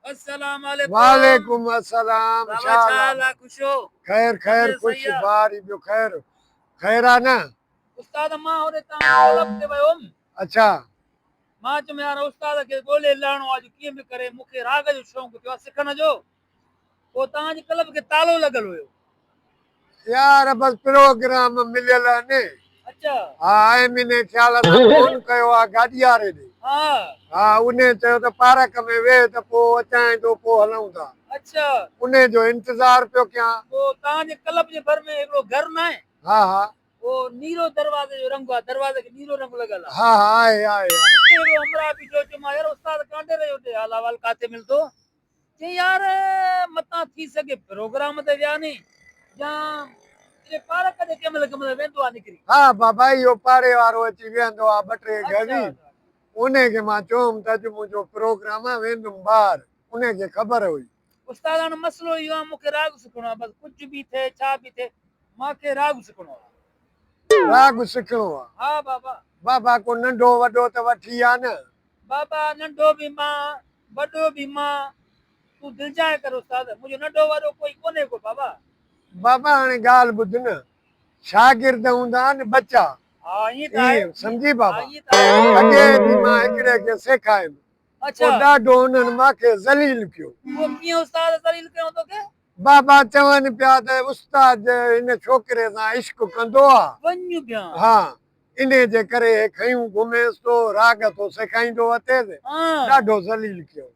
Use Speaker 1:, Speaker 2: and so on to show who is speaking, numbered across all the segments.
Speaker 1: السلام عليڪم وعليڪم
Speaker 2: السلام بابا ڇا حال آ
Speaker 1: خوش ھو خير خير
Speaker 2: خوش بار
Speaker 1: ٻيو خير
Speaker 2: خير آ نه استاد مان
Speaker 1: ھوڏي تان طلب تي ويو ھم اڇا
Speaker 2: مان
Speaker 1: چيم يار استاد کي ڳولي لاھڻو آ جو ڪيئن به ڪري مون کي راڳ جو شوق ٿيو آ سکڻ جو پوء تان جي قلب کي تالو لڳل هيو.
Speaker 2: يار بس پروگرام مليل اني. اچا. ها
Speaker 1: ايم اني
Speaker 2: خيال سان فون ڪيو آ گاڏياري ڏي. ها. ها
Speaker 1: اني
Speaker 2: چيو ته پارڪ ۾ ويهه ته پوء اچانء ٿو پوء هلون ٿا. اچا. اني
Speaker 1: جو
Speaker 2: انتظار پيو ڪيان. پوء تان جي قلب
Speaker 1: جي ڀر ۾ هڪڙو گهر ناهي. ها ها. اهو
Speaker 2: نيرو
Speaker 1: دروازي جو رنگ آ دروازي کي نيرو رنگ لڳل آ. ها ها آهي آهي.
Speaker 2: اتي هڪڙو همراهه
Speaker 1: بيٺو هيو چيومانس يار استاد ڪانڊيري جو ڏي حال احوال ڪاٿي ملدو. چيائين يار متان ٿي سگهي پروگرام تي ويا ني يا اهي پارڪ تي ڪنهن مهل ڪنهن مهل ويندو آ نڪري. ها بابا اهو
Speaker 2: پاڙي وارو اچي ويهندو آ ٻه ٽي گهڙي
Speaker 1: انهي
Speaker 2: کي مان چيوم ته اڄ منهنجو پروگرام آ ويندم ٻاهر انهي کي خبر هئي. استاد هاڻ مسئلو
Speaker 1: اهو آ مون کي راڳ سکڻو آ بس ڪجهه به ٿئي ڇا به ٿئي مان کي راڳ سکڻو آ. راڳ
Speaker 2: سکڻو آ. ها
Speaker 1: بابا. بابا ڪو ننڍو
Speaker 2: وڏو ته وٺي آ نه بابا ننڍو
Speaker 1: به مان وڏو به مان تون دلجاء ڪر استاد منهنجو ننڍو وڏو ڪوئي ڪونهي ڪو بابا. بابا هاڻي
Speaker 2: ڳالهه ٻڌ نه شاگرد هوندا آهن ٻچا ايئن
Speaker 1: سمجهي بابا
Speaker 2: اڳي
Speaker 1: به مان
Speaker 2: هڪڙي کي سيکايم پوء ڏاڍو
Speaker 1: انهن
Speaker 2: مان کي ذليل ڪيو. اهو ڪيئن استاد
Speaker 1: ذليل ڪيائون توکي؟ بابا چون
Speaker 2: پيا ته استاد هن ڇوڪري سان عشق ڪندو آ. وڃ بيان. ها
Speaker 1: انهيء
Speaker 2: جي ڪري هي کيون گهميس تو راڳ اٿو سيکائيندو اٿيس ڏاڍو ذليل ڪيو.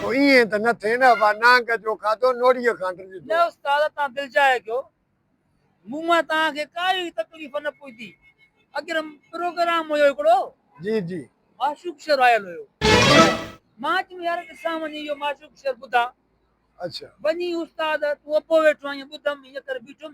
Speaker 1: تو ائين
Speaker 2: ته نه ٿين ابا نانگ جو کاڌو نوڙيء کان ڊڄ ٿو. نه استاد
Speaker 1: تان دلجاء ڪيو مون مان تان کي ڪائي تڪليف نه پهتي اگر پروگرام هيو هڪڙو جي جي
Speaker 2: معشوق شعر
Speaker 1: آيل هيو مان چيم يار ڏسان وڃي اهو معشوق شعر ٻڌان اڇا
Speaker 2: وڃي استاد
Speaker 1: تون ابو ويٺو آهين ٻڌم ان ڪري بيٺم.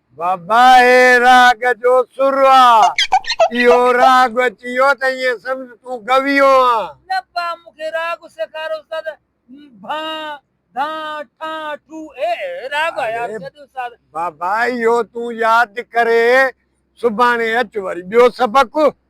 Speaker 1: بابا هي
Speaker 2: راڳ جو سر آ. اهو راڳ اچي ويو ته ائين سمجهه تون گويو آن. نه پاء مون کي
Speaker 1: راڳ سيکار استاد. ڀان، ڌان، ٺان، ٺو هي راڳ آ ياد ڪيو استاد. بابا اهو
Speaker 2: تون ياد ڪري سڀاڻي اچ وري ٻيو سبق.